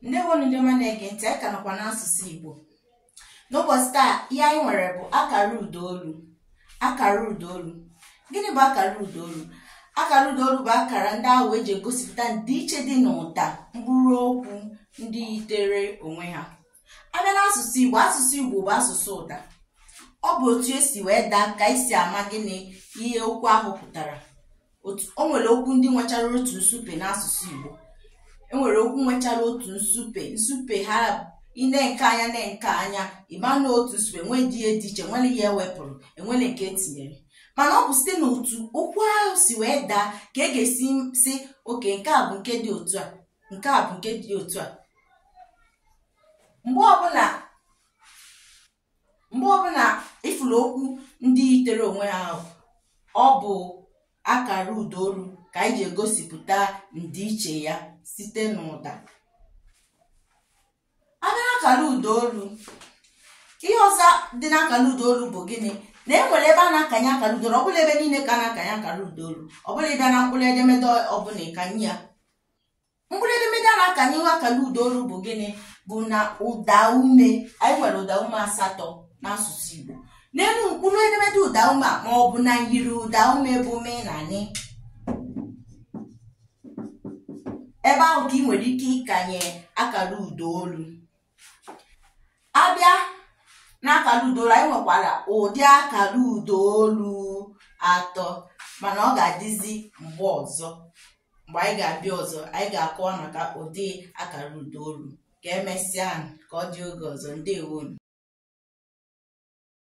ndewonu ndị ọma na-ege ntị anyị ka nọkwa n'asụsụ Igbo n'ụbọchị taa ihe anyị nwere bụ akara ụdaolu akara ụdaolu gịnị bụ akara ụdaolu akara ụdaolu bụ akara ndị ahụ eji egosipụta ndịiche dị n'ụda mkpụrụ okwu ndị yitere onwe ha a bịa n'asụsụ Igbo asụsụ Igbo bụ asụsụ ụda ọ bụ otu esi wee daa ka esi ama gịnị ihe okwu ahụ pụtara o nwere okwu ndị nwechara otu nsupe n'asụsụ Igbo e nwere okwu nwechara otu nsupe nsupe ha i nee nke a anya nee nke a anya ị ma na otu nsupe nwedịghị ihe dị iche enwerọ ihe e wepụrụ enwerọ nke e tinyere mana ọ bụ site n'otu okwu ahụ si wee daa ka e ga-esi sị okay nke a bụ nke dị otu a nke a bụ nke dị otu a mgbe ọbụla mgbe ọbụla ị fụrụ okwu ndị yitere onwe ha ahụ ọ bụ akara ụda olu ka anyị ji egosipụta ndịiche ya site n'ụda a bịa n'akara ụda olu ihe ọzọ dị n'akara ụda olu bụ gịnị na e nwere ebe a na-akanye akara ụda olu ọ bụrọ ebe niile ka a na-akanye akara ụda olu ọ bụrọ ị bịa na mkpụrụ edemede ọbụla ị kanye ya mkpụrụ edemede a na-akanye akara ụda olu bụ gịnị bụ na ụda ume anyị nwere ụda ume asatọ n'asụsụ Igbo n'elu mkpụrụ edemede ụda ume ma ọ bụ na myiri ụda ume bụ m na n ebe ahụ ka i nwere ike ịkanye akara ụda olu a bịa n'akara ụda olu anyị nwekwara ụdị akara ụda olu atọ mana ọ ga-adịzi mgbe ọzọ mgbe anyị ga-abịa ọzọ anyị ga-akọwa maka ụdị akara ụda olu ka e mesịa ka ọ dị oge ọzọ ndewonu